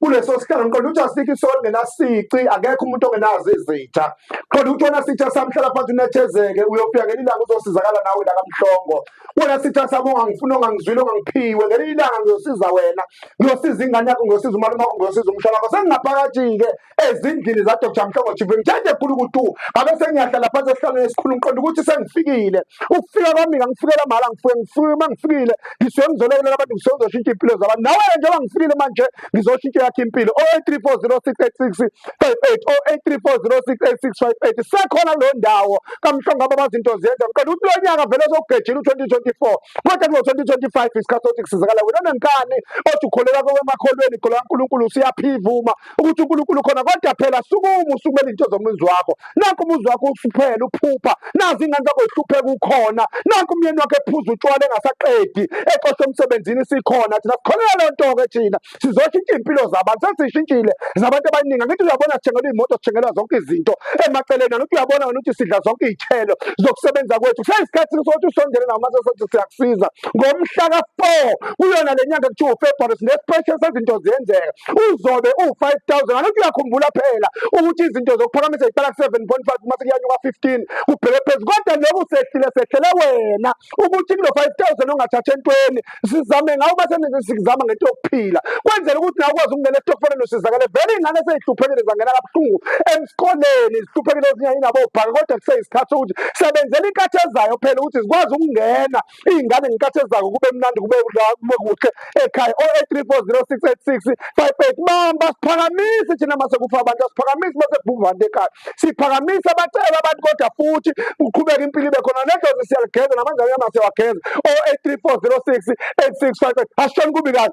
kuleso sikhala ngiqonda ukuthi asikho isonto ngenasici akekho umuntu ongenazo izitha qonda ukuthi wona sitha samhlala phansi unethezeke uyofika ngelinye ilanga uzosizakala nawe la kamhlongo wona sitha sami ongangifuni ongangizwile ongangiphiwe ngelinye ilanga ngiyosiza wena ngiyosiza ingane yakho ngiyosiza umalume wakho ngiyosiza umshana wakho sengingaphakathi-ke ezindlini zadr mhlongo chief ngithanda ekhulu ukuthi ngabe sengiyahlala phansi esihlalweni esikhulu ngiqonda ukuthi sengifikile ukufika kwami ngangifikela mahhala ngifike ngifike uma ngifikile ngisuke ngizolobela abantu ngisuke ngizoshintsha iy'mpilo zabantu nawe njengoba ngifikile manje ngizoshintsha yakhe impilo o eight three four zero six eight six five eight o eight three four zero six eight six five eight sekhona kuleyo ndawo kamhlongo aba bazinto zenza ngicela ukuthi lo nyaka vele sokugejela u-twenty twenty four kodwa kulo-twenty twenty five isikhathi sokuthi kusizakala wena onenkani othi ukholelwa kwemakholweni ikholwa kankulunkulu siyaphivuma ukuthi uNkulunkulu khona kodwa phela sukuma usukumele izinto zomuzi wakho nakho umuzi wakho usuphela uphupha nazi ingane zakho zihlupheka ukhona nakho umyeni wakho ephuza utshwala engasaqedi exosha emsebenzini sikhona thina sikholelwa leyo nto-ke thina sizoshintsha iy'mpilo zabantu sesishintshile zabantu abaningi angithi uyabona sithengelwa iy'moto sithengelwa zonke izinto emaceleni angithi uyabona ngani ukuthi sidla zonke iy'thelo zokusebenza kwethu kuseyisikhathi sokuthi usondele nawo mase sothi siyakusiza ngomhla ka-four kuyona le nyanga kuthiwa ufebruary sinesipeshe sezinto ziyenzeka uzobe uwu-five thousand ngalokhu uyakhumbula phela ukuthi izinto zokuphakamisa ziqala ku-seven point five uma sekuyanyuka fifteen kubheke phezu kodwa loku sehlile sehlele wena ukuthi kulo five thousand ongathatha entweni sizame ngawo uma senizama ngento yokuphila kwenzela ukuthi nawe ukwazi ukungena esitokfeleni usizakale vele iy'ngane seyihluphekile zangena kabuhlungu emsikoleni zihluphekile ezinye inabo ubhaka kodwa kuseyisikhathi sokuthi sebenzela inkathi ezayo phela ukuthi zikwazi ukungena iy'ngane ngenkathi ezako kube mnandi kube kube kuhle ekhaya o eight three four zero six eight six five eight bamba siphakamise thina mase kufa abantu asiphakamise mase kubhumva abantu ekhaya siphakamise abacela abantu kodwa futhi uqhubeke impilo ibe khona nedlozi siyalugeza namanjani yamase wageza o eight three four zero six eight six five eight asishoni kubi kahle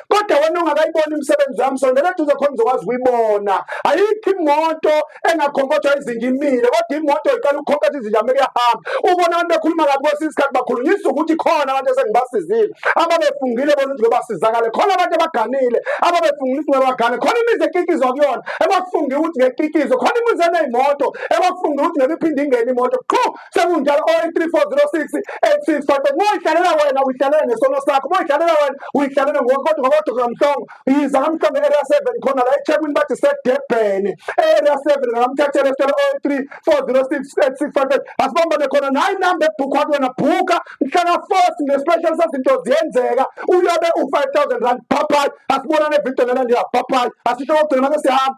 kodwa wena ongakayiboni imisebenzi yami sondela eduze khona uzokwazi ukuyibona ayikho imoto engakhonkotha izinja imile kodwa imoto iqala ukukhonkotha izinja uma kuyahamba ubona abantu bekhuluma kabi kwesinye isikhathi bakhulunyisa ukuthi khona abantu esengibasizile ababefungile bona ukuthi ngobasizakale khona abantu abaganile ababefungile ukuthi ngobagane khona imizi ekikizwa kuyona ebafunge ukuthi ngekikizwe khona imizi eneyimoto ebafunge ukuthi ngebiphinde ingene imoto qho sekunjalo oyi-3406 86 kodwa moyidlalela wena uyidlalela ngesono sakho moyidlalela wena uyidlalela ngokodwa ngokodwa kamhlongo yiza kamhlongo e-area 7 khona la ethekwini bathi sedebhene e-area 7 ngamthathela esitolo oyi-3406 86 asibambane khona nayo inamba ebhukha kuyona bhuka mhlaka force nge-special sezinto ziyenzeka uyobe u-5000 rand bhabhayi asibonane evidiyo nela ndiya bhabhayi asisho kokugcina mase sihamba